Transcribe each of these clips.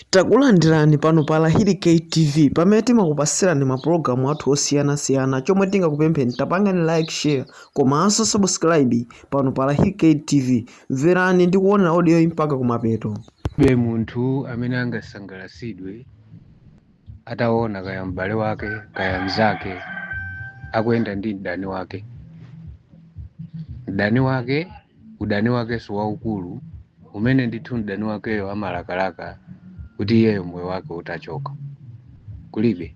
Takulandirani pano pa Lahiri K TV pamene timakupasirani mapulogalamu athu osiyanasiyana chomwe tingakupempheni tapangani like share komanso subscribe pano pa Lahiri K TV mverani ndi kuonera audioyi mpaka kumapeto be munthu amene angasangalatsidwe ataona kaya m'bale wake kaya mnzake akuyenda ndi mdani wake mdani wake udani wakenso waukulu umene ndithu mdani wakeyo amalakalaka kuti iyeyo moyo wake utachoka kulibe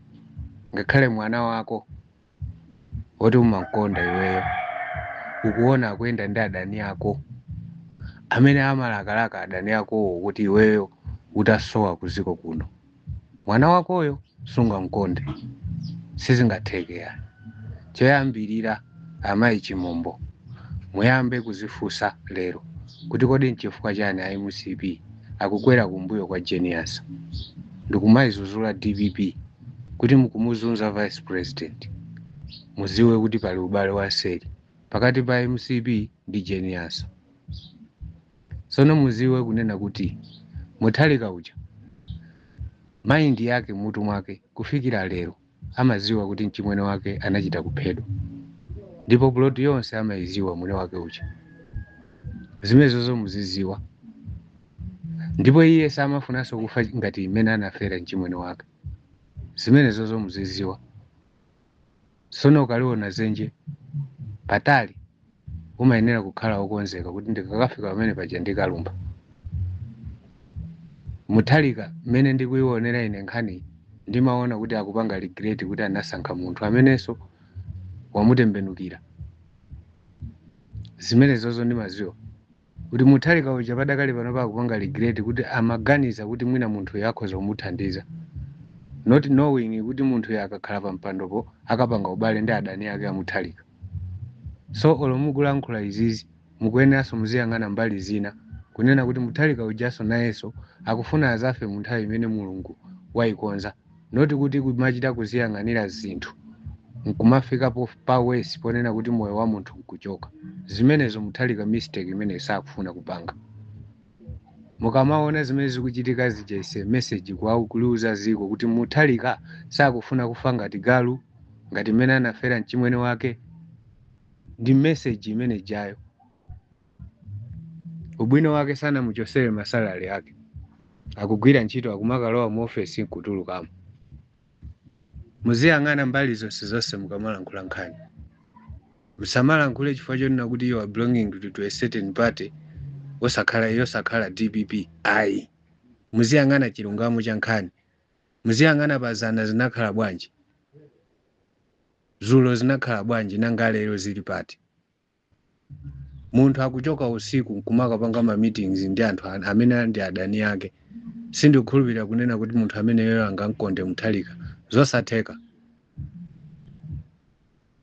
ngakhale mwana wako woti umamkonda iweyo ukuona akuyenda ndi adani ako amene amalakalaka adani akowo kuti iweyo utasowa kuziko kuno mwana wakoyo sungamkonde sizingatheke yani choyambirira amayi chimombo muyambe kuzifunsa lero kuti kodi nchifukwa chani a mcp akukwera kumbuyo kwa Jane Ansah ndikumayizuzula dpp kuti mukumuzunza vice president muziwe kuti pali ubale wamseri pakati pa mcp ndi Jane Ansah Tsono muziwe kunena kuti Mutharika uja mind yake mmutu mwake kufikira lero amaziwa kuti mchimwene wake anachita kuphedwa ndipo plot yonse amaiziwa mwini wake uja. Zimenezozo muziziwa ndipo iye samafunanso kufa ngati mmene anafera mchimwene wake. Zimenezozo muziziwa. sono ukaliona zenje patali umayenera kukhala okonzeka kuti ndikakafika pamene paja ndikalumpha mutharika mmene ndikuionera ine nkhani ndimaona kuti akupanga regret kuti anasankha munthu amenenso wamutembenukira zimenezozo ndimaziwa kuti mutharika uja padakali pano akupanga regret kuti amaganiza kuti mwina munthuyo akhoza kumuthandiza not knowing kuti munthuyo akakhala pa mpandopo akapanga ubale ndi adani ake a mutharika so olo mukulankhula izizi mukuyeneranso muziyang'ana mbali zina kunena kuti mutharika ujanso nayenso akufuna azafe mu nthawi imene mulungu wayikonza not kuti kumachita kuziyang'anira zinthu nkumafika po- pa worse ponena kuti moyo wa munthu nkuchoka zimenezo mutharika mistake imene sakufuna kupanga mukamaona zimene zikuchitika zija is a message kwawo kuliuza ziko kuti mutharika sakufuna kufa ngati galu ngati mmene anafera mchimwene wake ndi message imene ijayo ubwino wake sanamuchosere masalari ake akugwira ntchito akumakalowa mu ofesi nkutulukamo muziyang'ana mbali zonse zonse mukamalankhula nkhani musamalankhule chifukwa chonena kuti you are belonging to, to a certain party osakhala yosakhala dpp ayi muziyang'ana chilungamo cha nkhani muziyang'ana pazana zinakhala bwanji zulo zinakhala bwanji nanga lero zili pati munthu akuchoka usiku nkumakapanga ma meetings ndi anthu an- amene ali ndi adani ake sindikukhulupirira kunena kuti munthu ameneyoyo angamkonde mutharika zosatheka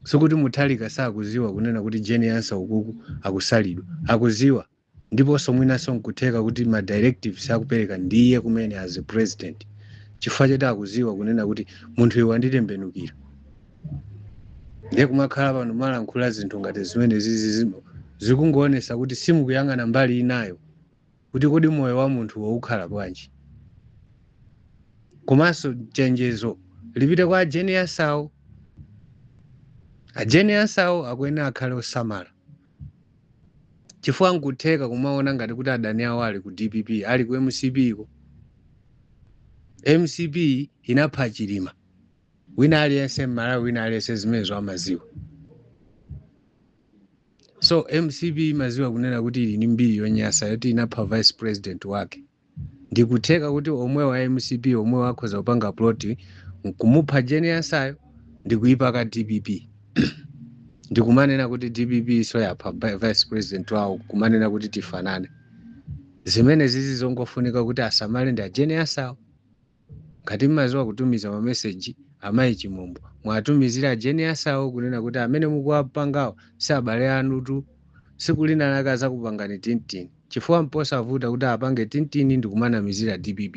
sikuti mutharika sakuziwa kunena kuti jane ansah ukuku akusalidwa akuziwa Ndiponso mwinanso nkutheka kuti ma directives akupereka ndi iye kumene as a president chifukwa choti akuziwa kunena kuti munthuyu wanditembenukira. Ndiye kumakhala pano malankhula zinthu ngati zimenezizi zi- zikungoonesa kuti simukuyang'ana mbali inayo kuti kodi moyo wa munthuwo ukhala bwanji. Komanso chenjezo lipite kwa a Jane Ansawo. A Jane Ansawo akuyenera akhale osamala. chifukwa nkutheka kumaona ngati kuti adani awo ali ku dpp ali ku mcpko mcp inapha chilima wina aliyense mmalawi wina aliyense zimenezo amaziwa so mcp imaziwa kunena kuti ili ni mbiri yonyasa yoti inapha vice president wake Ndikutheka kuti omwewo a mcp omwewo akhoza kupanga plot nkumupha Jane Ansayo ndikuipaka dpp ndikumanena kuti dppso yapha vi- vice president wawo kumanena kuti tifanane zimenezizi zongofunika kuti asamale ndi a Jane Ansawo Ngati mmaziwa kutumiza ma message amayi chimombo mwatumizire a Jane Ansawo kunena kuti amene mukuwapangawo si abale anutu siku lina lake azakupangani tintini chifukwa mposavuta kuti apange tintini ndikumanamizira dpp.